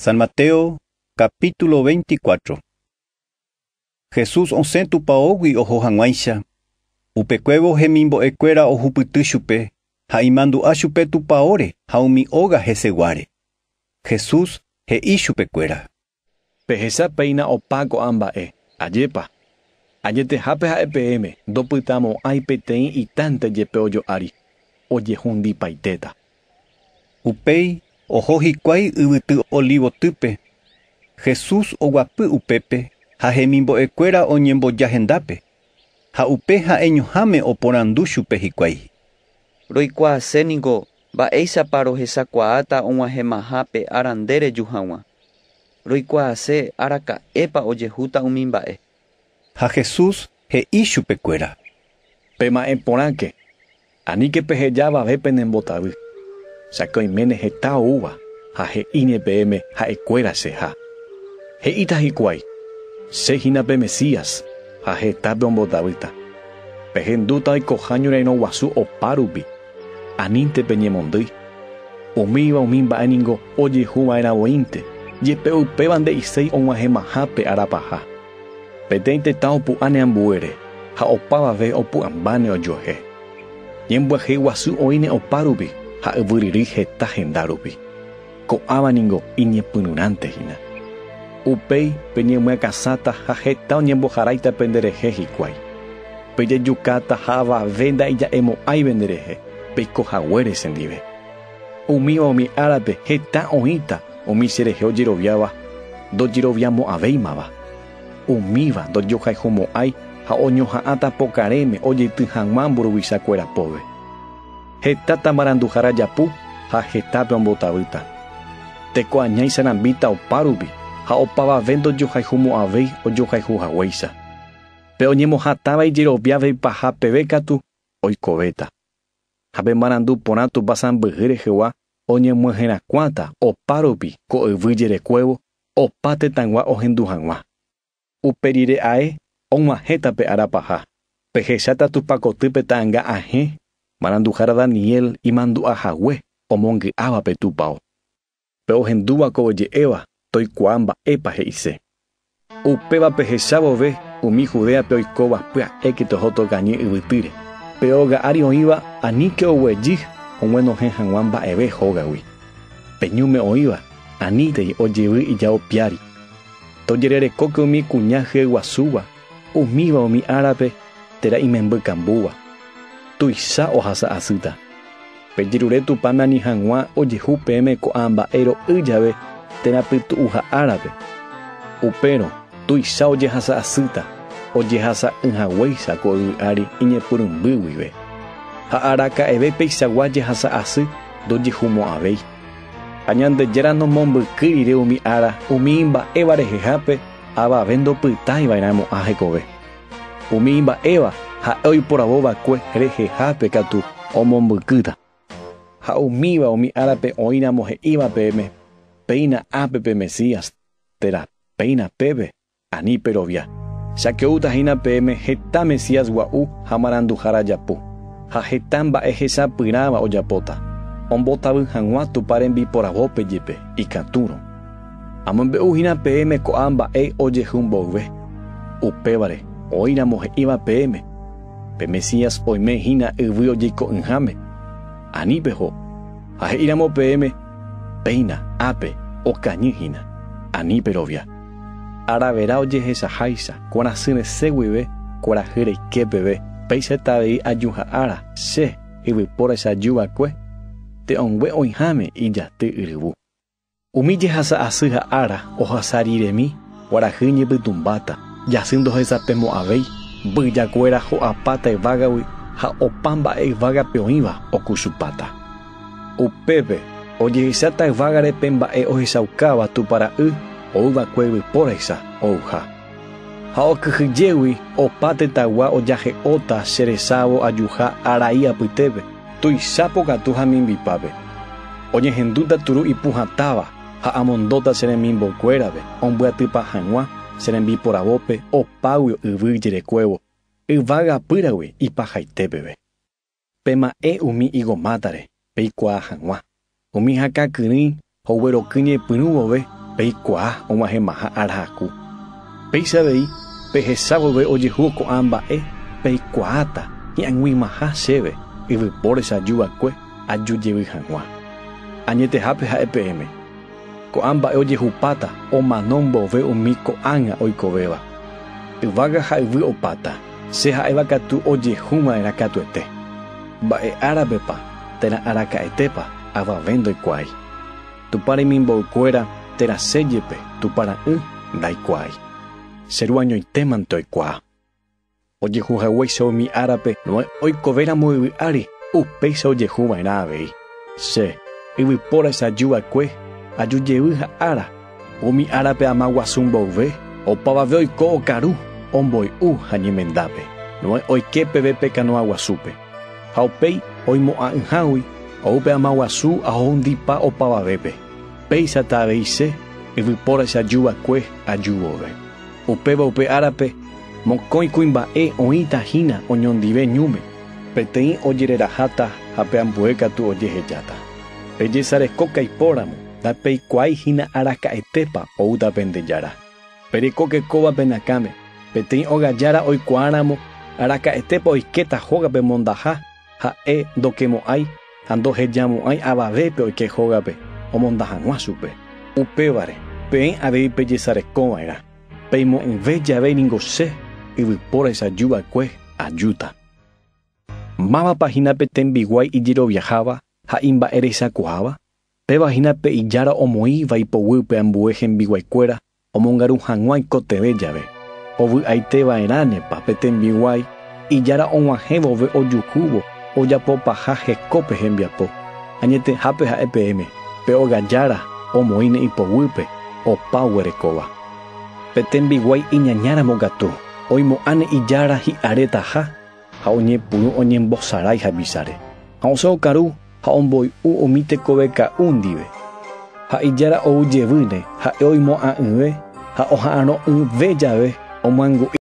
San Mateo capítulo 24. Jesús osẽ tupaógui oho hag̃uáicha, upekuévo hemimbo'ekuéra ohupyty chupe ha imandu'a chupe tupaóre ha umi óga heseguáre. Jesús he'i chupekuéra. Pehecha péina opa ko'ã mba'e. Ajépa! Añetehápe ha'e peẽme, ndopytamo'ãi peteĩ itánte jepe ojo'ári, ojehundipaitéta. Upéi oho hikuái yvyty Olivotýpe. Jesús oguapy upépe ha hemimbo'ekuéra oñemboja hendápe, ha upe ha'eñoháme oporandu chupe hikuái. Roikuaase ningo mba'éichapa rohechakuaáta og̃uahẽmaha pe ára nde reju hag̃ua. Roikuaase araka'épa ojehúta umi mba'e. Ha Jesús he'i chupekuéra, Pema'ẽ porãke, aníke peheja avave penembotavy, cháke oiméne heta oúva ha he'íne peẽme ha'ekuéra che ha. He'íta hikuái, Che hína pe Mesías ha heta peombotavýta. Pehendúta oikoha ñorairõ guasu opa rupi. Anínte peñemondýi. Umíva umi mba'e ningo ojehu va'erã voínte, jepe upéva nde'iséi og̃uahẽmaha pe ára paha. Peteĩ tetã opu'ãne ambuére, ha opavave opu'ãmbáne ojuehe. Ñembyahey guasu oĩne opa rupi ha yvy ryrýi heta henda rupi. Ko'ãva ningo iñepyrũrãnte hína. Upéi peñemyakãsáta ha heta oñemboharáita penderehe hikuái. Pejejukáta ha avave nda'ija'emo'ãive nderehe peiko haguére chendive. Umíva umi árape heta oĩta umi cherehe ojeroviáva ndojeroviamo'ãvéimava. Umíva ndojohayhumo'ãi ha oñoha'ãta pokarẽme ojety hag̃ua mburuvicha kuéra póve. Hetáta maranduhára japu ha hetápe ombotavýta. Teko aña isarambíta opa rupi ha opavave ndojohayhumo'ãvéi ojohayhu haguéicha. Pe oñemohatãva ijeroviáve ipaha peve katu oikovéta. Ha pe marandu porã Tupã sãmbyhy rehegua oñemyeherakuãta opa rupi ko yvy jerekuévo opa tetãgua ohendu hag̃ua. Upe rire ae og̃uahẽta pe ára paha, pehecháta Tupã koty pe ta'ãnga ahẽ, maranduhára Daniel imandu'a hague omongy'áva pe tupao. Pe ohendúva ko oje'éva toikuaa mba'épa he'ise. Upéva pehecha vove umi Judéape oikóva pya'éke toho tokañy yvytýre. Pe óga ári oĩva aníke oguejy oguenohẽ hag̃ua mba'eve hógagui. Pe ñúme oĩva anítei ojevy ijao piári. Tojererekóke umi kuña hyeguasúva, umíva umi árape térã imemby kambúva. Tuicha ohasa asýta. Pejerure Tupãme ani hag̃ua ojehu peẽme ko'ã mba'e ro'y jave térã pytu'uha árape. Upérõ tuicha ojehasa asýta, ojehasa'ỹ haguéicha ko yvy ári iñepyrũmby guive. Ha araka'eve peichagua jehasa asy ndojehumo'ãvéi. Ha Ñandejára nomombyky rire umi ára umi imba'éva rehehápe avave ndopytái va'erã mo'ã hekove. Umi imba'éva ha'e oiporavo va'ekue rehehápe katu omombykýta. Ha umíva umi árape oĩramo he'íva peẽme, Péina ápe pe Mesías, térã péina pépe. Ani perovia, jake'úta hína peẽme heta Mesías gua'u ha maranduhára japu, ha heta mba'e hesapyrãva ojapóta, ombotavy hag̃ua Tupã rembiporavópe jepe, ikatúrõ. Amombe'u hína peẽme ko'ã mba'e ojehu mboyve, upévare oĩramo he'íva peẽme, Pe Mesías oime hína yvy ojeiko'ỹháme, ani peho, ha he'íramo peẽme, Péina, ápe, okañy hína. Ani perovia. Aravera ojehechaháicha, kuarasyr resẽ guive, kuarahy reike peve, péicha heta avei ajuha ára, che, yvypóracha aju va'ekue, te'õngue oĩháme ijaty yryvu. Umi jehasa asy ha ára ohasa riremi, kuarahy ñepytũmbáta, jasy ndohesapemo'ãvéi, mbyja kuéra ho'apáta yvágagui ha opa mba'e yvágape oĩva okuchupáta. Upépe ojehecháta yvágare pe mba'e ohechaukáva Tupã Ra'y ou va'ekue yvypóraisa ouha. Ha okyhyjégui opa tetãgua ojahe'óta che resávo ajuha arai apytépe, tuicha pokatu ha mimbipápe. Oñehendúta turu ipu hatãva ha amondóta che remimbokuérape ombyatypa hag̃ua che rembiporavópe opágui yvy ijerekuévo yvága apýragui ipahaite peve. Pema'ẽ umi higo mátare, peikuaa hag̃ua. Umi hakã kyrỹi ogueroky ñepyrũ vove, peikuaa og̃uahẽmaha ára haku. Péicha avei, pehecha vove ojehu ko'ã mba'e, peikuaáta hi'ag̃uimaha chéve yvypórecha aju va'ekue aju jevy hag̃ua. Añetehápe ha'e peẽme. Ko'ã mba'e ojehupáta omano mbove umi ko'ág̃a oikovéva. Yvága ha yvy opáta, che ha'éva katu ojehu va'erã katuete. Mba'e árapepa térã araka'etépa avave ndoikuaái. Tupã remimboykuéra térã che jepe Tupã ra'ỹ ndaikuaái. Che ruañoitémante oikuaa. Ojehu haguéicha umi árape Noé oikovéramo yvy ári, upéicha ojehu va'erã avei. Che, yvypóra che aju va'ekue, aju jevy ha ára. Umi árape ama guasu mboyve, opavave oiko okaru, omboy'u ha ñemendápe. Noé oike peve pe kanoa guasúpe. Ha upéi, oimo'ã'ỹhágui, ou pe ama guasu ha ohundipa opavavépe. Péichata avei che, yvypóra che aju va'ekue, aju vove. Upéva upe árape, mokõi kuimba'e oĩta hína oñondive ñúme, peteĩ ojereraháta ha pe ambue katu ojehejáta. Pejesareko kaipóramo, ndapeikuaái hína araka'etépa oúta pende jára. Perekóke kóva pe nakãme, peteĩ óga jára oikuaáramo araka'etépa oikéta hógape mondaha, Ha'e ndokemo'ãi ha ndohejamo'ãi avave pe oike hógape omonda hag̃ua chupe. Upévare, peẽ avei pejesareko va'erã, peimo'ỹve jave ningo Che, yvypóra echaju va'ekue, ajúta. Mávapa hína pe tembiguái ijeroviaháva ha imba'erechakuaáva? Péva hína pe ijára omoĩva ipoguýpe ambue hembiguaikuéra Omongaru hag̃ua ikotevẽ jave, ovy'aite va'erãnepa pe tembiguái ijára og̃uahẽ vove ojukúvo ojapo paha heko pe hembiapo. Añetehápe ha'e peẽme, pe óga jára omoĩne ipoguýpe opa oguerekóva. Pe tembiguái iñañáramo katu, oimo'ãne ijára hi'aretaha ha oñepyrũ oñembosarái havichare, ha osẽ okaru ha omboy'u umi tekove ka'u ndive. Ha ijára ou jevýne, ha'e oimo'ã'ỹve ha oha'arõ'ỹve jave omyangu'i.